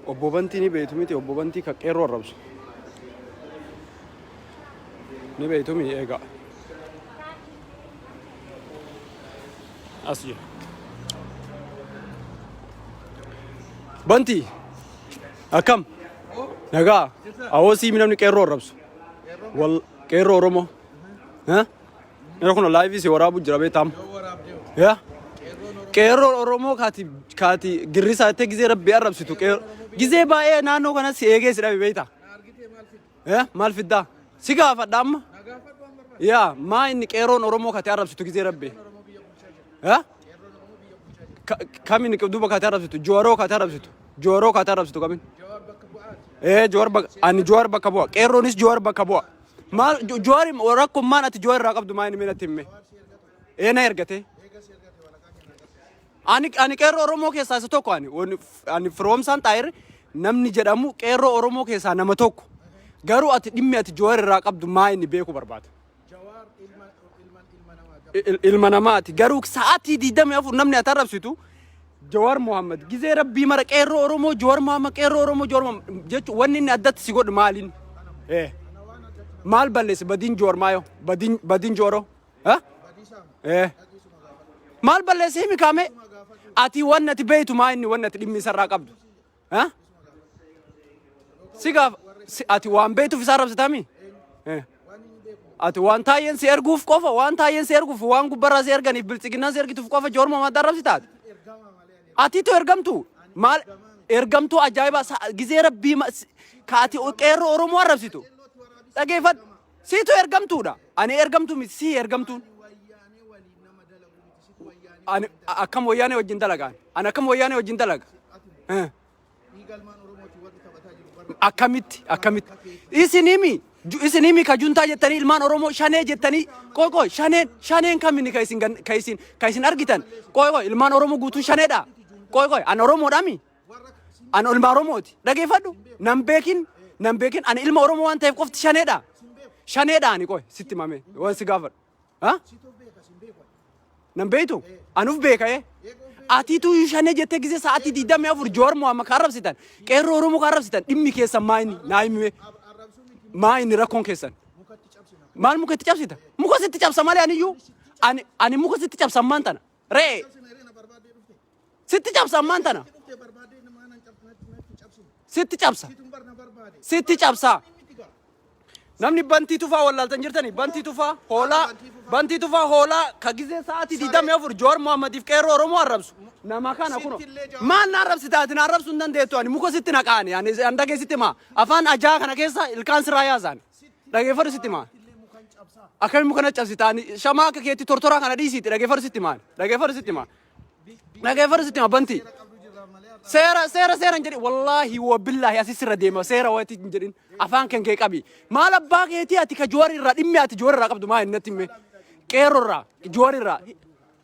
Obbo Bantii ni beektu miti obbo Bantii kan qeerroo arrabsu. Ni beektu miti eegaa. As jira. Bantii akkam nagaa awoo siimi namni qeerroo arrabsu. Wal qeerroo Oromoo. Ha? Yeroo kun laayivii si waraabu jira beektaam. Yaa. Qeerroon Oromoo kaati kaati girrisaa jettee gizee rabbi arrabsitu qeerroo. Gizee baay'ee naannoo kanas si eegee si dhabe beektaa. Yaa maal fiddaa? Si gaafadha amma. Yaa maa inni qeerroon Oromoo kaati arrabsitu gizee rabbi. Yaa. Kamiin duuba kaati arrabsitu jooroo kaati arrabsitu jooroo kaati arrabsitu kamiin. Ee joor bakka ani joor bakka bu'a qeerroonis joor bakka bu'a. Maal Jo- Jowaari rakkoon maal ati Jowaari irraa qabdu maal inni mee natti himme. Ee na ergatee. Ani ani qeerroo Oromoo keessaa isa tokko ani Wani- ani firoomsaan xaayir namni jedhamu qeerroo Oromoo keessaa nama tokko. Garuu ati dhimmi ati Jowaari irraa qabdu maal inni beeku barbaada. Il- ilma namaati garuu sa'aatii 24 namni ati arrabsitu Jawaar Mohaammed gizee rabbii mara qeerroo Oromoo Jawaar Mohaammed qeerroo Oromoo Jawaar Mohaammed jechuun wanni inni addatti si godhu maaliin? Eh. Maal balleessi badiin Jawaar maayoo? Badiin badiin Jawaaroo? Eh? Eh. Maal balleessi himi kaamee? Ati wanni ati beeytu maa inni wanni ati dhimmi isarraa qabdu? Ha? Si gaaf si- ati waan beektuuf isaa rabsitami? Eh. Ati waan taayeen si erguuf qofa waan taayeen si erguuf waan gubbarraa si erganiif biltsiginnaan si ergituuf qofa joorma mataa rabsitaati. Atiitu ergamtu maal ergamtuu ajaa'ibaa sa- gizee rabbii ma- si- ka ati qeerroo Oromoo arrabsitu. Dhageeffadhu siitu ergamtuudha. Ani ergamtu miti sii ergamtuun. Ani akkam wayyaanee wajjin dalagaan? Ani akkam wayyaanee wajjin dalaga? Eh. Akkamitti? Akkamitti? Isin himi. Ju- Isin himi ka juntaa jettanii ilmaan Oromoo shanee jettanii qoy qoy shaneen shaneen kaminni ka isin gan- ka isin ka isin argitan qoy qoy ilmaan Oromoo guutuun shaneedha. Qoy qoy an Oromoodhami. An ilma Oromooti. Dhageeffadhu. Nan beekin nan beekin ani ilma Oromoo waan ta'eef qofti shaneedha. Shaneedha ani qoy sitti mamee waan si gaafadhu. Ha? Situ beeka sin beeku. Nan beektu? Anuf beeka ee. Atiitu shanee jettee gisee sa'aatii digdamii afur Jowaar Mohaammed kan arrabsitan, qeerroo Oromoo kan arrabsitan dhimmi keessan maa inni naa himime Arrabsuu miti maa inni rakkoon keessan. mukatti cabsina. Maal muka itti cabsita? Muka sitti cabsa malee aniyyuu ani ani muka sitti cabsa ammaan tana. Re'ee. Sitti cabsa ammaan tana. Sitti cabsa. Sitti cabsa. Namni bantii tufaa wallaaltan jirtani bantii tufaa hoolaa bantii tufaa hoolaa ka gizee sa'aatii digdamii afur Jowaar Mohammadiif qeerroo Oromoo arrabsu nama kana kuno maal na arrabsi taati na arrabsu hin dandeettu ani muka sitti naqaani ani handagee sitti maa afaan ajaa kana keessa ilkaan siraa yaasaan. Dhageeffadhu sitti maa. Akkamiin muka na cabsitaan shamaa akka keetti tortoraa kana dhiisiitti dhageeffadhu sitti maa. Dhageeffadhu sitti maa. Dhageeffadhu sitti maa banti. Seera seera seera hin jedhin wallaahi wa billaahi asi sirra deema seera wati hin jedhin afaan kan kee qabi maal abbaa keetii ati ka joori irraa dhimmi ati joori irraa qabdu maa innatti himme qeerro irraa joori irraa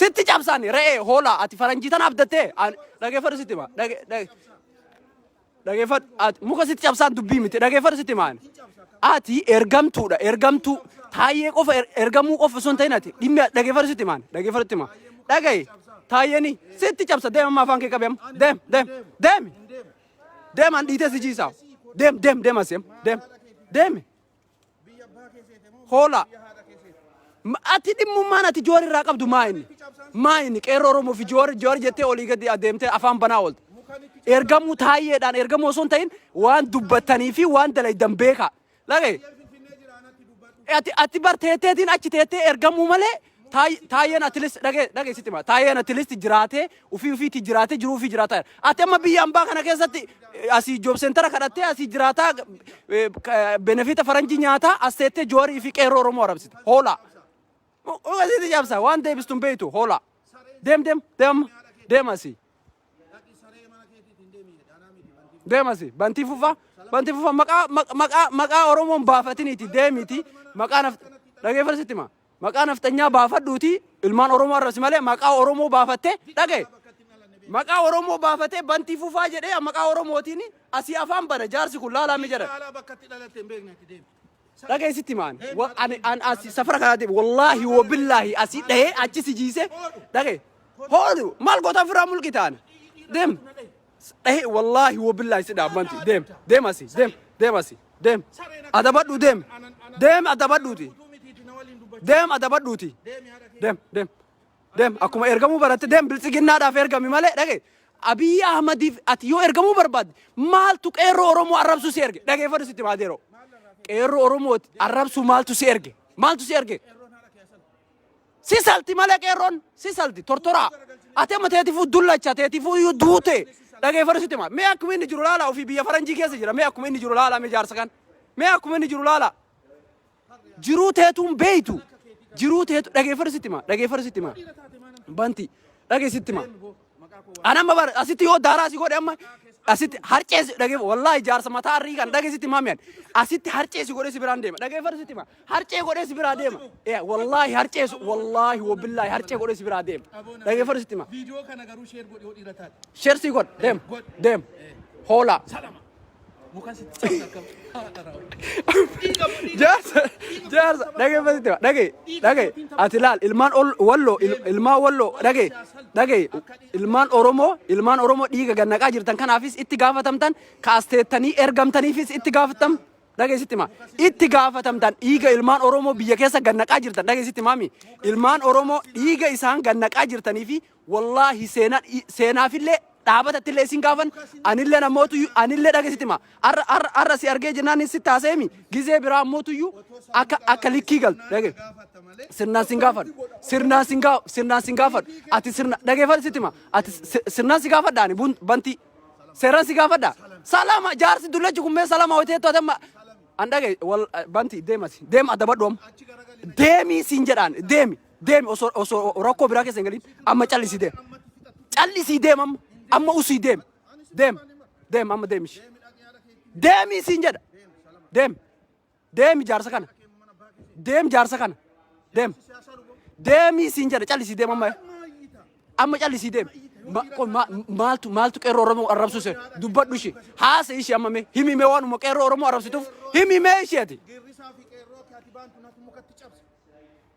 Sitti cabsaani re'ee hoolaa ati faranjii tana abdattee An- dhageeffadhu sitti hima Dhage- dhage- dhageeffadhu ati muka sitti cabsaan dubbii miti dhageeffadhu sitti himaan ati ergamtuudha ergamtuu taayyee qofa er- ergamuu qofa osoo hin ta'in ati dhimmi dhageeffadhu sitti himaan dhageeffadhu sitti himaa dhagaye taayyeeni sitti cabsa deem amma afaan kee qabe amma deem deem deemi deem an dhiitee si jiisaa deem deem deem asii amma deem deemi Hoola. Ma- Ati dhimmummaan ati joor irraa qabdu maa inni? Maa inni qeerroo Oromoo fi joor joor jettee olii gadi adeemtee afaan banaa oolte. Ergamuu taayyeedhaan ergamuu osoo hin ta'in waan dubbattanii fi waan dalaydan beekaa. Lagee. Ati ati bar teetteetiin achi teettee ergamuu malee Taay- Taayyeen atilist dhagee dhagee sitti hima. Taayyeen atilist jiraatee ofii ofiitti jiraatee jiruu ofii jiraataa jira. Ati amma biyya ambaa kana keessatti eh, asii joob seentara kadhattee asii jiraataa eh, ka- benefita faranjii nyaataa as teettee joorii fi qeerroo oromoo arabsite. Hoolaa. Ogasitti cabsa waan deebistu hin beektu hoolaa. Deem deem deem deem asii. deemasi bantii fufa bantii fufa maqaa maqaa maqaa oromoon baafatiniiti deemiti maqaa naf dhageeffadhu sitti hima Maqaa nafxanyaa baafadhuutii ilmaan Oromoo arrabsi malee maqaa Oromoo baafattee dhagaye. Maqaa Oromoo baafatee bantii fufaa jedhee maqaa Oromootiin asii afaan bana jaarsi kun laalaa mi jedhan. Magaalaa bakka itti dhalatte hin beekne ati deemi. Dhagaye sitti maan. Ani an asii safara kanaa deemu. Wallaahi wabillaahi asii dhahee achi si jiisee dhagaye. Hoodhu maal goota ofirraa mulqi taana. Deem. Dhahi wallaahi wabillaahi si dhaabbanti. Deem deem asi deem deem asi deem adabadhu deem deem adabadhuuti deem adabadhuuti deem deem deem akkuma ergamuu baratte deem biltsiginnaadhaaf ergami malee dhage Abiyyi Ahmadiif ati yoo ergamuu barbaadde maaltu qeerroo Oromoo arrabsuu si erge dhageeffadhu sitti maa deeroo qeerroo Oromoo arrabsuu maaltu si erge maaltu si erge Si salti malee qeerroon si salti tortoraa. Ati amma teetifuu dullacha teetifuu iyyuu duute dhageeffadhu sitti hima. Mee akkuma inni jiru laala ofii biyya faranjii keessa jira mee akkuma inni jiru laala mee jaarsa kan. Mee akkuma inni jiru laala. Jiruu teetuun beeytu. Jiruu teetu dhageeffadhu sitti hima dhageeffadhu sitti hima. Banti dhageessitti hima. An amma bar asitti yoo daaraa si godhe amma asitti harcee si dhageef wallaahi jaarsa mataa arrii kan dhage sitti maami ani asitti harcee si godhe si biraan deema dhageeffadhu sitti ma harcee godhe si biraa deema Eh, wallaahi harcee su- wallaahi wabillaahi harcee godhe si biraa deema dhageeffadhu sitti ma Viidiyoo kana garuu sheer godhi hodhii irra taate. sheer si godhe deema deema hoolaa Salama. Muka sitti cabsa akka haadha raawwatu. Jaarsa jaarsa dhagee fasitti waa dhagee dhagee ati laal ilmaan ol- walloo il- ilmaan walloo dhagee dhagee ilmaan oromoo ilmaan oromoo dhiiga gannaqaa jirtan kanaafis itti gaafatamtan kaasteettanii ergamtaniifis itti gaafatam dhagee sitti maa itti gaafatamtan dhiiga ilmaan oromoo biyya keessa gannaqaa jirtan dhagee sitti maami ilmaan oromoo dhiiga isaan gannaqaa jirtanii fi Wallaahi seenaa seenaafillee dhaabatattillee isin gaafan anillee namootuyyu anillee dhagesitima arra arra arra si argee jennaan hin sitti haaseemi gizee biraa mootuyyu akka akka likkii galtu dhage sirnaan sin gaafadhu sirnaan sin gaa sirnaan sin gaafadhu ati sirna dhageeffadhu sittima ati si- sirnaan si gaafadha ani bun- bantii seeraan si gaafadha salama jaarsi dullachi kummee salama hoteettu atamma an dhage wal bantii deemasi deema adabadhu amma deemii siin jedhaan deemi Deemi osoo osoo rakkoo biraa keessa hin galin amma callisii deem. Callisii deem amma amma usii deem. Deem deem amma deemi ishee. Deemi isiin jedha. Deem deemi jaarsa kana. Deem jaarsa kana. Deem deemi isiin jedha callisii deem amma. Amma callisii deem. Ma- qo- ma- Maaltu maaltu qeerroo Oromoo arrabsu ishee dubbadhu ishee haasa ishee amma mee himi mee waanuma qeerroo Oromoo arrabsituuf himi mee isheeti. Geerrisaa fi qeerroo kee ati baantu natu mukatti cabse.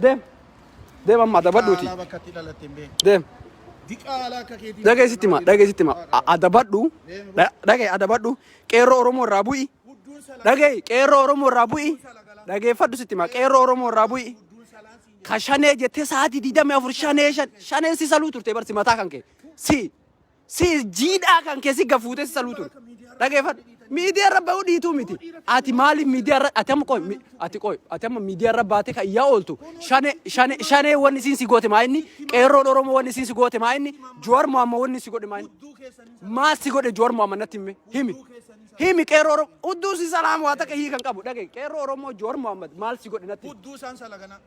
Deem. Deem amma adabadhuuti. Diqaalaa bakka itti dhalatte hin beektu. Deem. Diqaalaa akka keetii. Dhagee sitti hima. Dhagee sitti hima. A- Adabadhu. Dha- Dhagee adabadhu. Qeerroo Oromoo irraa bu'i. Gudduun salaa. Dhagee qeerroo Oromoo irraa bu'i. Dhageeffadhu sitti hima. Qeerroo Oromoo irraa bu'i. Gudduun salaan siin jedha. Ka shanee jettee sa'aatii 24 shanee shan shaneen si saluu turte barsi mataa kan kee. Si Si jiidhaa kan kee si gafuutee si saluu ture. Dhageeffadhu. Miidiyaa irra bahuu dhiituu miti. Ati maaliif miidiyaa irra ati amma qoy mi- ati qoy ati amma miidiyaa irra baatee kan iyyaa ooltu shane shane shanee wanni isiin si goote maa inni qeerroon oromoo wanni isiin si goote maa inni Jowaar Mohaammed wanni si godhe maa inni maal si godhe Jowaar Mohaammed natti himi himi himi qeerroo oromoo udduu si salaam waa takka hii kan qabu dhage qeerroo oromoo Jowaar Mohaammed maal si godhe natti himi. Hudduu isaan salagana.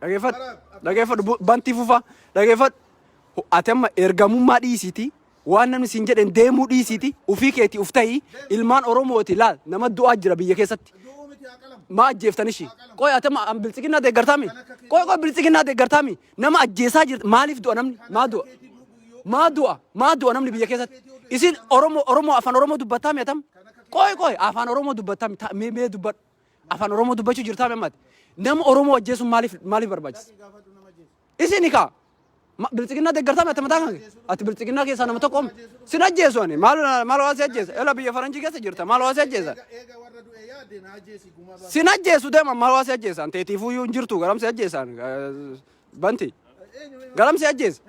Dhageeffadhu. Dhageeffadhu. Bu- Bantii fufaa. Dhageeffadhu. Ho- Ati amma ergamummaa dhiisiiti. Waan namni siin jedhen deemuu dhiisiiti. Ufii keetii uf ta'ii. Ilmaan Oromooti laal. Nama du'aa jira biyya keessatti. Maa ajjeeftan ishii. Qoy ati amma an biltsiginnaa deeggartaami. Qoy qoy biltsiginnaa deeggartaami. Nama ajjeesaa jirti. Maaliif du'a namni? Maa du'a? Maa du'a? Maa du'a namni biyya keessatti? Isin Oromoo Oromoo afaan Oromoo dubbattaami atam? Qoy qoy afaan Oromoo dubbattaami. Ta- Mee mee dubbadhu. Afaan Oromoo dubbachuu jirtaa memmaati. Nama Oromoo ajjeesuun maaliif maaliif barbaachisa? Isin kaa bilxiginnaa deeggartaa ati mataa kan ati bilxiginnaa keessaa nama tokko sin ajjeesu ani maal maal waa si ajjeesa ela biyya faranjii keessa jirta maal waa si ajjeesa sin ajjeesu deema maal waa si ajjeesaan teetiifuu iyyuu hin jirtu garam si ajjeesaan banti garam si ajjeesa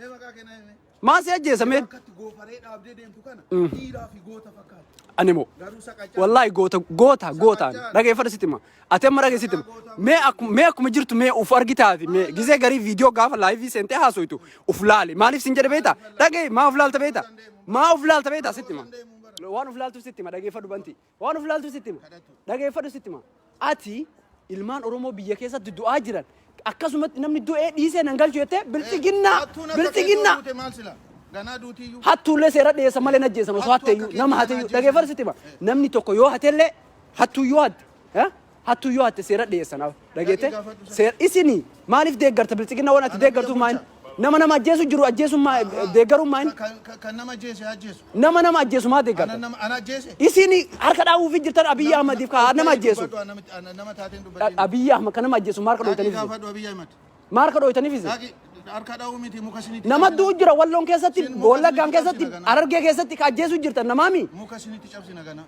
Maa si ajjeesa mee? Akkatti goofaree dhaabdee deemtu kana dhiiraa fi goota fakkaata. Animo. Garuu saqachaa. Wallahi goota goota goota dhageeffadha sitti hima. Ati amma dhageessi sitti hima. Mee akkuma mee akkuma jirtu mee uf argitaati mee gisee garii viidiyoo gaafa laayivii seentee haasoytu uf laali maaliif sin jedhe beekta dhagee maa uf laalta beekta maa uf laalta beekta sitti hima. Waan uf laaltuuf sitti hima dhageeffadhu banti. Waan of ilaaltu sitti hima. Dhageeffadhu sitti hima. Ati ilmaan Oromoo biyya keessatti du'aa jiran akkasumatti namni du'ee dhiisee nan galchu jettee bilxiginnaa bilxiginnaa hattuullee seera dhiyeessa malee najjeessan osoo hatteeyyuu nama hateeyyuu dhageeffadhu sitti hima. Namni tokko yoo hatellee hattuu yoo hatte Hattu yoo hatte seera dhiyeessa na dhageette seera isini maaliif deeggarta bilxiginna waan ati deeggartuuf maayin nama nama ajjeesu jiru ajjeesuun maa deeggaruun maayin Kan nama jeese haa jeesu. nama nama ajjeesu maa Ana deeggarta nama ana jeese. isini harka dhaawuufi jirtan Abiyyi Ahmadiif ka nama ajjeesu Nama taateen dubbatiin. Abiyyi Ahmad ka nama ajjeesu maarka Dhaqii dhooytaniif gaafadhu Abiyyi Ahmad. maarka dhooytaniif isin Dhaqi harka dha'uu miti muka isinitti nama cabsina. du'u jira walloon keessatti Isin muka wallaggaan isinitti keessatti cabsina ganaa. arargee keessatti ka ajjeesu jirtan namaami Muka isinitti cabsina ganaa.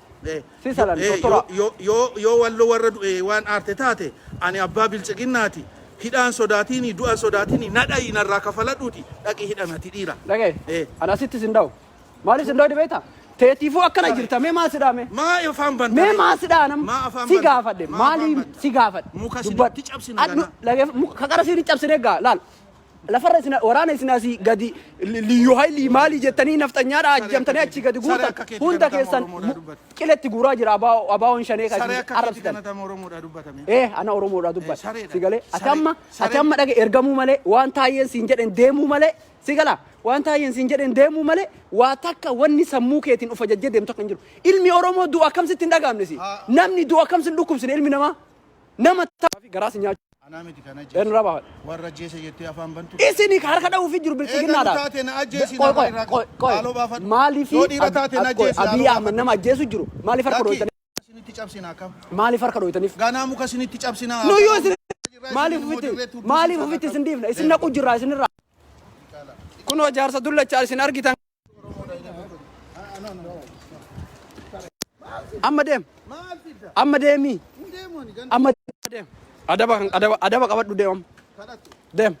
Eh, Si yo- salan eh, yo- tortoraa. yo- yo- yoo wallo warra du'e waan aarte taate ani abbaa bilxiginnaati hidhaan sodaatiini du'an sodaatiini na dha'i narraa kafaladhuuti dhaqi hidhan ati dhiira Dhaga'e. Eh, Ana asitti sin dhawu. Maaliif sin dhawu dhibeeta? Teetiifuu akkana Sabe. jirta. Mee maal si dhaame? maa afaan banta Mee maal si dhaana? maa afaan Si banta? gaafadhe. Maa afaan Maaliif banta? si gaafadhe? muka Dubbat. sinitti cabsina Adhu- ganaa dhaga'e- muka- Kaqara siin hin cabsine egaa. Laal. Lafarra isin waraana isin asii gadi liyyuu haylii maalii jettanii nafxanyaadha ajjamtanii achii gadi guurtan hunda keessan qiletti guuraa jira abaawoon shanee kan isin arrabsitan. Ee ana Oromoodhaa dubbadha. Si galee ati amma ati amma dhaga ergamuu malee waan taayyeen siin jedhen deemuu malee si gala waan taayyeen siin jedhen deemuu malee waa takka wanni sammuu keetiin of ajajjee deemtu akka hin jiru. Ilmi Oromoo du'a akkamsitti hin dhagaamne si. Namni du'a akkamsi hin dhukkubsine ilmi namaa nama taa'aa fi garaa si nyaachuu. Anaa miti kan Eenyu ajjeese. irraa baafadha? Warra ajjeese jettee afaan bantu. Isini ka harka dha'uu fi jiru Eegalu bilxiginnaadha. taate na ajjeesi Qoy, na qoy, irraa qoy, qabu. qoy. Haaloo baafadhu. Maaliif Yoo dhiira Ab- taate na Ab- qoy, ajjeesi, Abiy haaloo Ahmed baafadhu. nama ajjeesu jiru maaliif harka Lakki, dhooytaniif? isinitti cabsina akkam? Maaliif harka dhooytaniif? Ganaa muka isinitti cabsina. Nuyyuu isin maaliif ofitti maaliif ofitti isin dhiifna? Isin naqu jirraa isinirraa. Kunoo jaarsa dullachaa isin argitan Amma deem. Amma deemii. Amma deem. Adaba adaba adaba qabadhu deem amma. Deem.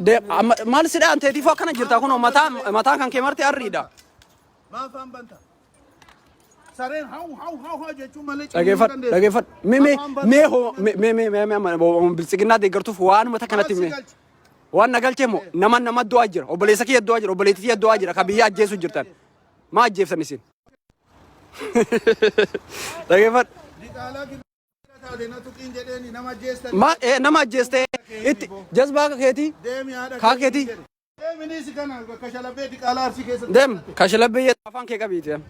Deem amma maal si dhaan teetiif akkana jirta kun mataa mataa kan kee marti arriidha. Dhageeffadhu dhageeffadhu. Mee mee mee hoo mee mee mee mee amma biltsiginnaa deeggartuuf waanuma takkanatti mee. Waan na galchee moo nama nama du'aa jira obboleessa kiyya du'aa jira obboleetti kiyya du'aa jira ka biyya ajjeessu jirtan maa ajjeeftan isin. Dhageeffadhu. Ma eh, nama ajjeeste itti jazbaa akka keetii kaa keetii deem kashalabbee jedha afaan kee qabiiti.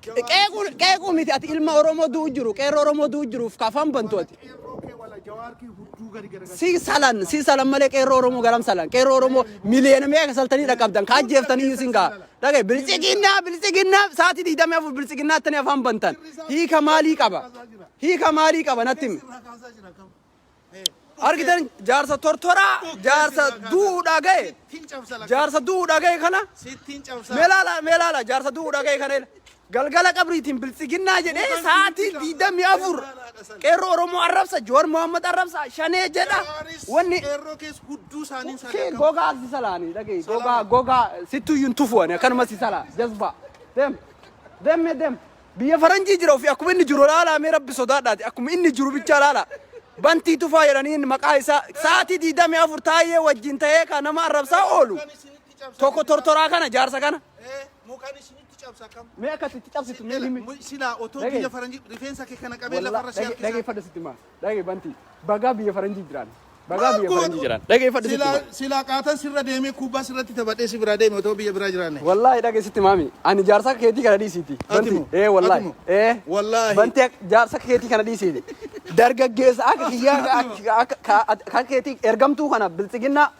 Qeequun qeequu miti ati ilma Oromoo du'u jiru qeerroo Oromoo du'u jiruuf kafan bantu ati. Si salan si salan malee qeerroo Oromoo garam salan qeerroo Oromoo miliyoona meeqa saltanii dhaqqabdan kaa jeeftanii iyyuu sin ga'a. Dhagee bilisiginnaa bilisiginnaa sa'aatii digdamii afur bilisiginnaa attanii afaan bantan hiika maalii qaba hiika maalii qaba natti himi. argitan jaarsa tortoraa jaarsa du'uudhaa ga'e jaarsa du'uudhaa ga'e kana meelaala meelaala jaarsa du'uudhaa ga'e kana galgala qabriitiin biltsiginnaa jedhee sa'aatii diidamii afur qeerroo oromoo arrabsa joor mohammad arrabsa shanee jedha wanni kee gogaa si salaanii dhagee gogaa gogaa sittuyyuun tufuwani akkanuma si salaa jazbaa dem demme dem Biyya faranjii jira ofii akkuma inni jiru laalaa mee rabbi sodaadhaati akkuma inni jiru bichaa laalaa bantii tufaa jedhaniin maqaa isaa sa'aatii diidamii afur taa'ee wajjin ta'ee kan nama arrabsaa oolu tokko tortoraa kana jaarsa kana Mukaan isinitti cabsa kam? mee akkasitti cabsitu mee himi Silaa otoo Dhaga'i. biyya faranjii rifeensa kee kana qabee Wallah, lafarra si dhage- harkisa. dhageeffadha sitti maa Dhage banti. Bagaa biyya faranjii jiraan. Bagaa Maal biyya faranjii gootu? jiraan. Dhageeffadhu sitti Silaa hima. silaa qaataan sirra deemee kubbaa sirratti taphadhee si biraa deeme otoo biyya biraa jiraanne. Wallaahi dhage sitti maami. Ani jaarsa akka keetii kana dhiisiiti. Ati Banti. moo? Ee wallaahi. Ati moo? Ee. Wallaahi. Banti ak- jaarsa akka keetii kana dhiisiiti. Dargaggeessa akka kiyyaa akka- akka- akka- akka keetii ergamtuu kana biltsiginnaa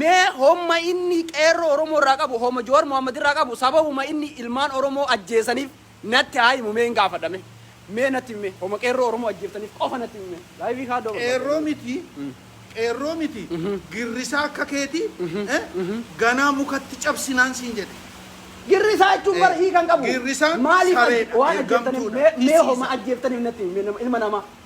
Mee homma inni qeerroo Oromoo irraa qabu homma Jawar Mohammed irraa qabu sababuma inni ilmaan Oromoo ajjeesaniif natti haa himu mee hin gaafadha mee mee natti himi mee homa qeerroo Oromoo ajjeeftaniif qofa natti himi mee laayivii kaa doo Qeerroo miti qeerroo miti girrisaa akka keeti eh ganaa mukatti cabsinaan siin jedhe. Girrisaa jechuun bar hiika hin qabu. Girrisaan maaliif sareedha, waan ajjeeftaniif ergamtuudha, mee mee homa tisiisa. ajjeeftaniif natti himi mee nama ilma namaa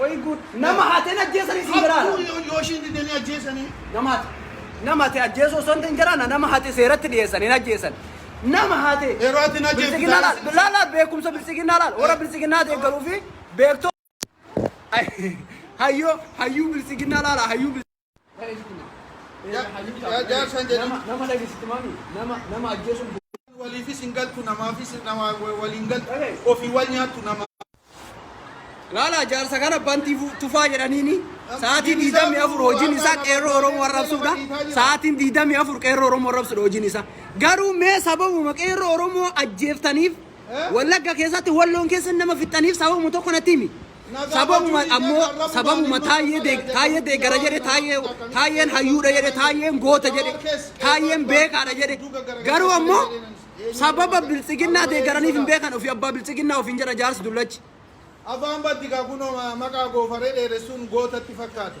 Way good nama hate najjeesani isin jira Hattuu laata? yoo yoo ishiin didee ni ajjeesanii. Nama hate nama hate ajjeesuu osoo hin ta'in jaraana nama hate seeratti dhiyeessan hin ajjeessan. Nama hate Yeroo ati hin ajjeeftu bilxiginnaa jaalala laal laal laal beekumsa bilxiginnaa laal warra bilxiginnaa deeggaruu fi beektoo hayyoo hayyuu bilxiginnaa laala hayyuu bilxiginnaa. Jaarsaan jedhu. Nama dhageessitti maami. Nama nama ajjeesuun Waliifis hin galtu namaafis nama waliin galtu ofii wal nyaattu nama. Laala jaarsa kana bantii fu- tufaa jedhaniini sa'aatii diidamii afur hojiin isaa qeerroo Oromoo arrabsuudha. Sa'aatiin diidamii afur qeerroo Oromoo arrabsuudha hojiin isaa. Garuu mee sababuma qeerroo Oromoo ajjeeftaniif Wallagga keessatti walloon keessa nama fixxaniif sababuma tokko natti himi. Sababuma ammoo sababuma taayyee deeg taayyee deeggara jedhe taayyee taayyeen hayyuudha jedhe taayyeen goota jedhe taayyeen beekaadha jedhe garuu ammoo sababa biltsiginnaa deeggaraniif hin beekan ofii abbaa biltsiginnaa ofiin jedha jaarsi dullachi. Afaan baddi kaa kunoo maqaa goofaree dheeressuun gootatti fakkaate.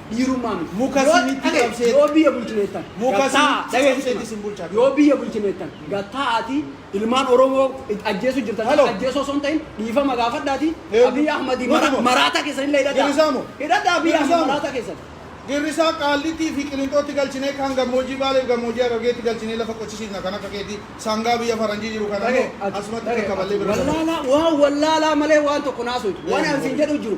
dhiirummaan Muka yoo isinitti dhage- qabsee- yoo biyya bulchineettan Muka gad taa'aa, isinitti dhageessi qabsee sima. isin bulchaa yoo biyya bulchineettan gad taa'aatii ilmaan oromoo it- ajjeesuu jirtan Halo. ajjeesoo osoo hin ta'in dhiifama gaafadhaatii Eegu. abiy ahmadii Nuti mara- moo? maraataa keessan illee hidhadhaa Girrisaa moo? hidhadhaa abiy Girrisaa ahmad moo? maraataa keessan Girrisaa qaallitii fi qilinxootti galchinee kan gammoojjii baalee fi gammoojjii harargeetti galchinee lafa qochisiifna kan akka keetii sangaa biyya faranjii jiru kana Dhage- immoo asumatti dhage- qaqqaballee bira wallaalaa waan wallaalaa malee waan tokko naasuutu waan Eegu. ansiin jedhu jiru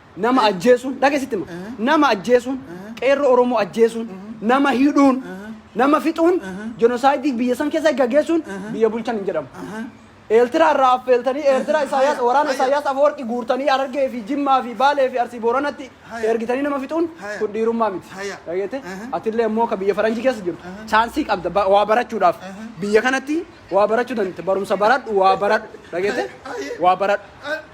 Nama ajjeesuun, dhaqee sitti hima. Nama ajjeesuun, qeerroo Oromoo ajjeesuun, nama hidhuun, nama fixuun, jenosaayidii biyya san keessa gaggeessuun biyya bulchan hin jedhamu. Eeltiraa irraa affeeltanii Eertiraa Isaayyaas Haya, waraana haya. Isaayyaas Afawarqi guurtanii Harargee fi Jimmaa fi Baalee fi Arsii Booranatti Haya. ergitanii nama fixuun Haya. kun dhiirummaa miti. Haya. Dhageette? Aha. Atillee immoo ka biyya faranjii keessa jirtu chaansii qabda ba- waa barachuudhaaf. Biyya kanatti waa barachuu dandeette. Barumsa baradhu waa baradhu. Dhageette? Haya. Waa baradhu.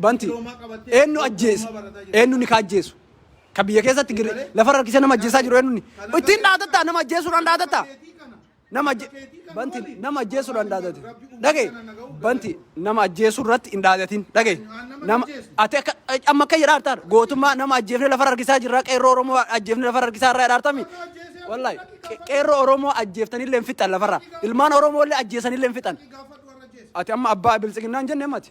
Banti. Eenyu ajjeese? Eenyu ni ka ajjeesu? Ka biyya keessatti gir- lafa rakkisee nama ajjeesaa jiru eenyu ni? Ittiin dhaadatta nama ajjeesuudhaan dhaadatta. Nama ajje- banti nama ajjeesuudhaan dhaadate. Dhage banti nama ajjeesuu irratti hin dhaadatin. Dhage nama ati akka amma akka jedhaa jirtaan gootummaa nama ajjeefne lafa harkisaa jirra qeerroo Oromoo ajjeefne lafa harkisaa irraa jedhaartami. Wallahi qe- qeerroo Oromoo ajjeeftanillee hin fixan lafarra. Ilmaan Oromoo illee ajjeesanillee hin fixan. Ati amma abbaa biltsiginnaan jenne mati.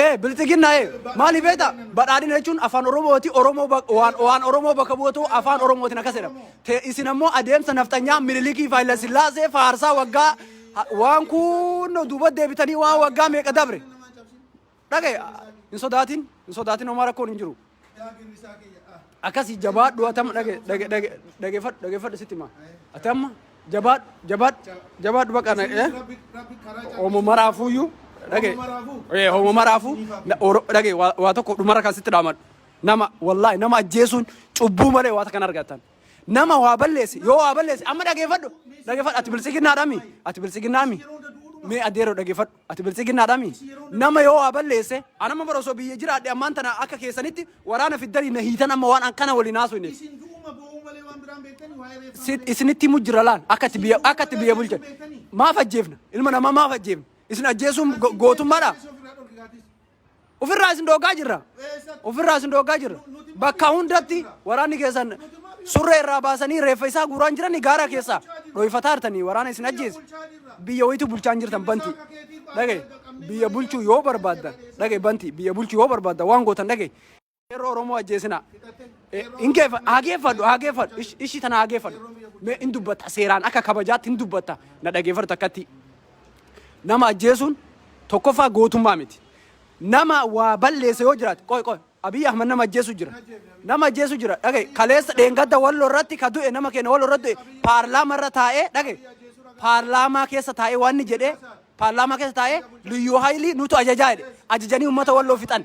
ee bilxiginnaa ee maaliif beekta badhaadhina jechuun afaan oromooti oromoo bak- waan waan oromoo bakka bu'atu afaan oromootiin akkas jedhama Te- isin ammoo adeemsa nafxanyaa minilikii faayila sillaasee faarsaa waggaa ha- waan kun duuba deebitanii waan waggaa meeqa dabre dhagaye hin sodaatin hin sodaatin homaa rakkoon hin jiru Akkasi jabaadhu atama dhage dhage dhage dhagefadhu dhagefadhu sitti ma. Atama jabaadhu jabaadhu jabaadhu baqa na eh. Omo maraafuyyuu dhage. Eh omo maraafu dhage waa tokko dhumara kan sitti dhaamadhu. Nama wallahi nama ajjeesuun cubbuu malee waa takkan argatan. Nama waa balleesse yoo waa balleesse amma dhagefadhu dhagefadhu ati bilsiginnaadhami ati bilsiginnaami mee adeero dhagefadhu. Ati biltsiginnaadhaami? Nama yoo waa balleesse, an amma bara osoo biyya jiraadhe ammaan tana akka keessanitti waraana fiddanii na hiitan amma waan an kana waliin haasofneef. Isin du'uma boo'uu malee waan biraan beektanii waa'ee reeffaa Si- malee. isinitti himu jira laal akka itti Isin biyya du'uu akka itti malee biyya ajjeesuu bulchan beektanii? maaf ajjeefna ilma namaa maaf ajjeefna isin ajjeesuun go- gootummaadha Ajjeesuu ofirraa dhorki gaaddisa. Ofirraa isin dhooggaa jirra. Ofirraa isin dhooggaa jirra. Bakka hundatti waraanni keessan surree irraa baasanii reeffa isaa guuraan jiranii gaara keessaa dho'ifataa jirtanii waraana isin ajjeese. Biyya wayitu bulchaan jirtan banti. Dhagaye biyya bulchuu yoo barbaaddan dhagaye banti biyya bulchuu yoo barbaaddan waan gootan dhagaye. Qeerroo Oromoo ajjeesinaa. Hin geeffa- haa geeffadhu, haa geeffadhu. Ish- Ishii tana haa geeffadhu. Mee hin dubbatta seeraan akka kabajaatti hin dubbatta. Na dhageeffattu akkatti. Nama ajjeesuun tokkoffaa gootummaa miti. Nama waa balleesse yoo jiraate qoy qoy Abiy Ahmad nama ajjeesu jira. Nama ajjeesu jira. Dhage kaleessa dheengadda wallo irratti ka du'e nama keenya wallo irratti du'e paarlaamaa irra taa'ee dhage paarlaamaa keessa taa'ee waan inni jedhee paarlaamaa keessa taa'ee liyyuu haayilii nutu ajajaa jedhe ajajanii uummata walloo fixan.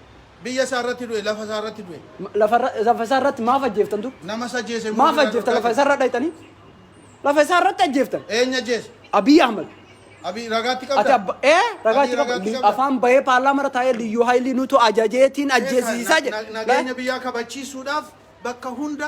Biyya isaa irratti du'e, lafa isaa irratti du'e. Ma- Lafa irra- lafa isaa irratti maaf ajjeeftan dur? Nama isa ajjeese immoo Maaf bira ajjeeftan dhorkaa lafa isaa irra dhayxanii? Lafa isaa irratti ajjeeftan. jirti. Eenyu ajjeese? Abiy Ahmed. Abii ragaatti Ati qabda? abba ee ragaa Abiy itti ragaatti qabu qabda. afaan bahee paarlaamaa irra taa'ee liyyuu haayilii nutu ajajeetiin ajjeesiisaa Na- na- jedhe. Nageenya biyyaa kabachiisuudhaaf bakka hunda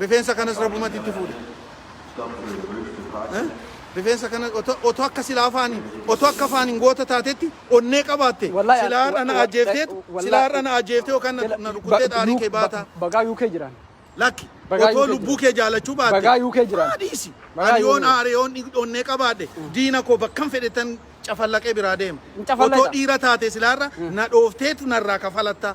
Rifeensa kanas rabumati itti fuudhe rifeensa kana oto akka sila afaani oto akka afaanin goota taatetti onnee qabaatte Wallahi sila har'a na ajjeefteet sila har'a na ajjeeftee yookaan na na rukuttee xaarii kee baataa bagaa UK jiraan. lakki Bagaa otoo UK lubbuu jira. kee jaalachuu baatte Bagaa UK jira. maa dhiisi Bagaa ani UK yoon jira. aare yoon dhig- onnee qabaadhe diina koo bakkan fedhetan cafallaqee biraa deema Hin cafallaqxa. otoo dhiira taate silaarra na dhoofteetu narraa kafalatta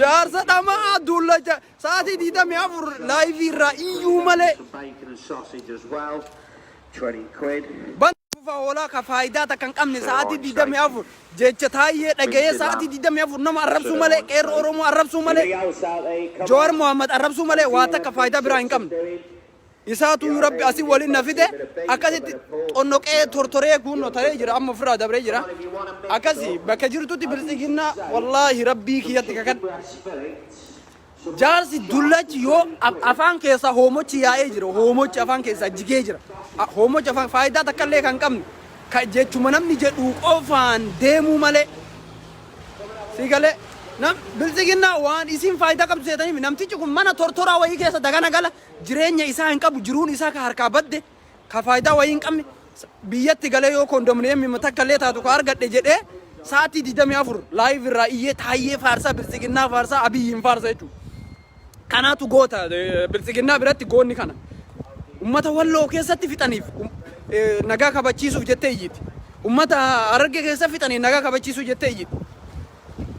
Jaarsa dhama'aa duullacha sa'aatii 24 laayivii irraa iyyuu malee. Bana fufa hoolaa ka faayidaa takka hin qabne sa'aatii 24 jecha taayyee dhaga'ee sa'aatii 24 nama arrabsuu malee qeerroo Oromoo arrabsuu malee Jawaar Mohaammed arrabsuu malee waa takka faayidaa biraa hin qabne. Isaatuyyuu Rabbi asi walin na fide akkasitti xonnoqee tortoree kuunnoo ta'ee jira amma ofirraa dabree jira. Akkasi bakka jirtutti bilxiginnaa wallaahi Rabbii kiyyatti kakan jaarsi dullachi yoo af- afaan keessaa hoomochi yaa'ee jira hoomochi afaan keessaa jigee jira A- hoomochi afaan faayidaa takka illee kan qabne ka jechuma namni jedhu qofaan deemuu malee si galee nam bilxiginnaa waan isiin faayidaa qabdu seetaniif namtichi kun mana tortoraa wayii keessa dagana gala jireenya isaa hin qabu jiruun isaa ka harkaa badde ka faayidaa wayii hin qabne sa- biyyatti galee yoo kondominiyeemii takka illee taatu ka argadhe jedhee sa'aatii 24 laayiv irraa iyyee taayyee faarsaa biltsiginnaa faarsaa abiyyiin faarsa jechuudha. Kanaatu goota eh, biltsiginnaa biratti goonni kana. Ummata walloo keessatti fixaniif um- eh, nagaa kabachiisuuf jettee iyyiti. Ummata hararge keessa fixaniif nagaa kabachiisuu jettee iyyiti.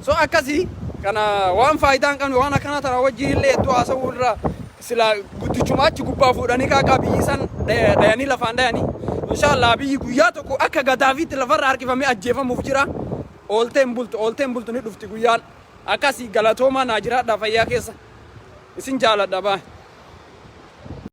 So akkasi kana waan faayidaa hin qabne waan akkana tana wajjin illee hedduu haasa'uu irra sila guddichuma achi gubbaa fuudhanii kaa qabii san dhayanii lafaan dhayanii inshaallah biyyi guyyaa tokko akka gadaafiitti lafarra harkifamee ajjeefamuuf jira oolteen bultu oolteen bultu ni dhufti guyyaan akkasi galatoomaa naa jiraadhaa fayyaa keessa isin jaaladha baa